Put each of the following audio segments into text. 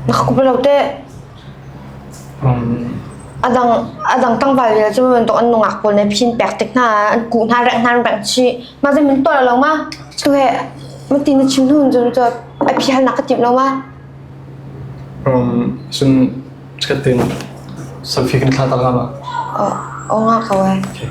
Na ka kup lo teh. A dang tlangval vial cu bantuk an nungak pawl nih phin pek tik hna, an kuh hna, rengh hna, an rengh chih. Ma zei min tuah lo lo ma? Tu he ma ti na chim hnu cun cu ai phi hal nak ka timh lo ma? Cun chikat tin selfie kan thlah ta hnga ma? O nga ko ai. Okay.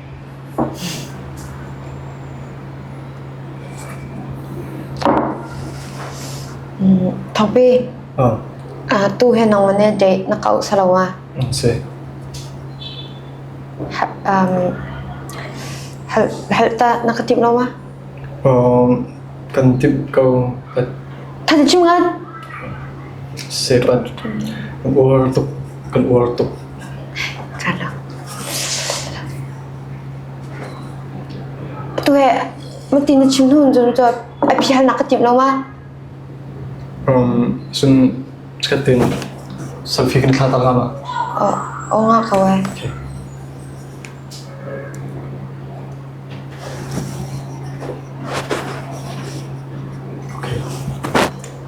Thawpi tu he nangmah nih tei na kauh sa lo ah helh ta na ka timh lo ma? Kan timh ko. Than chim ngan? Sepan. Kan uar tuk. Kan uar tuk. Tuah mati na chim hnu cun cu a phi hal nak ka timh lo ma? Cun chikkhat tin selfie kan thlah ta ka ma? O nga ko ai.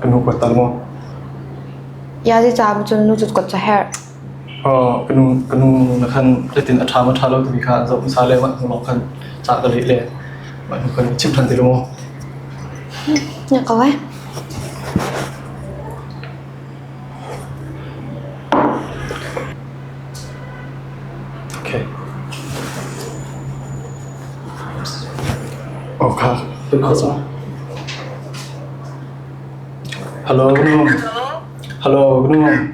Kan hu kuat ta maw? Ia si caah cun nu cu kuat ca herh. ka nu na khan zeitin a ṭha maw ṭha lo timi kha zoh hmasa le mah hnu lawng khan ca ka leh le mah hnu khan chimh ṭhan ti lu mu. Na ko ai. Okay. Oh, ka. Hello, Gnung. Hello, Gnung.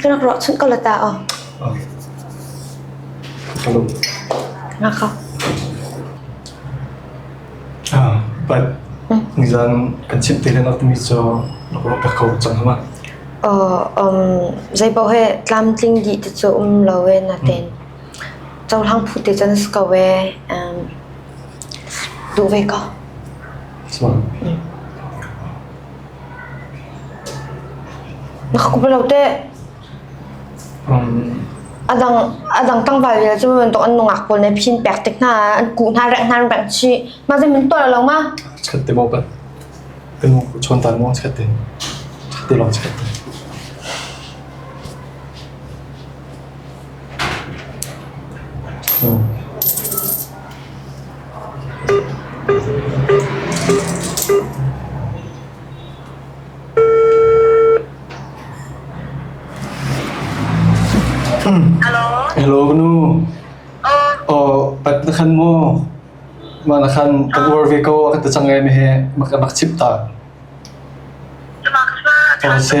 ka rak ruahchunh ko la ta aw. But nizan kan chimh te hlen tumi cu rak rak ko cang hama. Zeipaoh he tlamtling dih te cu um lo e na ten. Cohlang phu te cun sko e duh ve ko. A dang tlangval vial cu bantuk an nungak pawl nih phin pek tik hna ah an kuh hna, rengh hna an rengh chih. Mah zeimin tuah lo lang ma? Chet te maw kan chon tan maw chet te. Chet te long chet te. Hmm. Hello kanu. Oh, pat na khan mo. Ma na khan kan war ve ko kan ta chang ai me he mak mak chip ta. Mak sa. Oh se.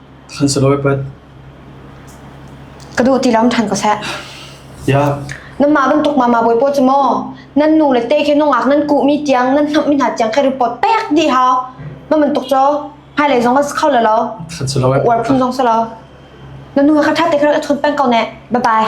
Ka duh ti lam ṭhan ko seh. Nanmah bantuk mama bawipaw cu maw nan nu le te khi nungak nan kuhmi tiang nan hnamhmi hna tiang kha report pek di hau. Ma bantuk cu hmailei zong ka kho lo lo. Uar phun zong si lo. Na nu kha ṭha te khan a thut peng ko ne. Bye bye.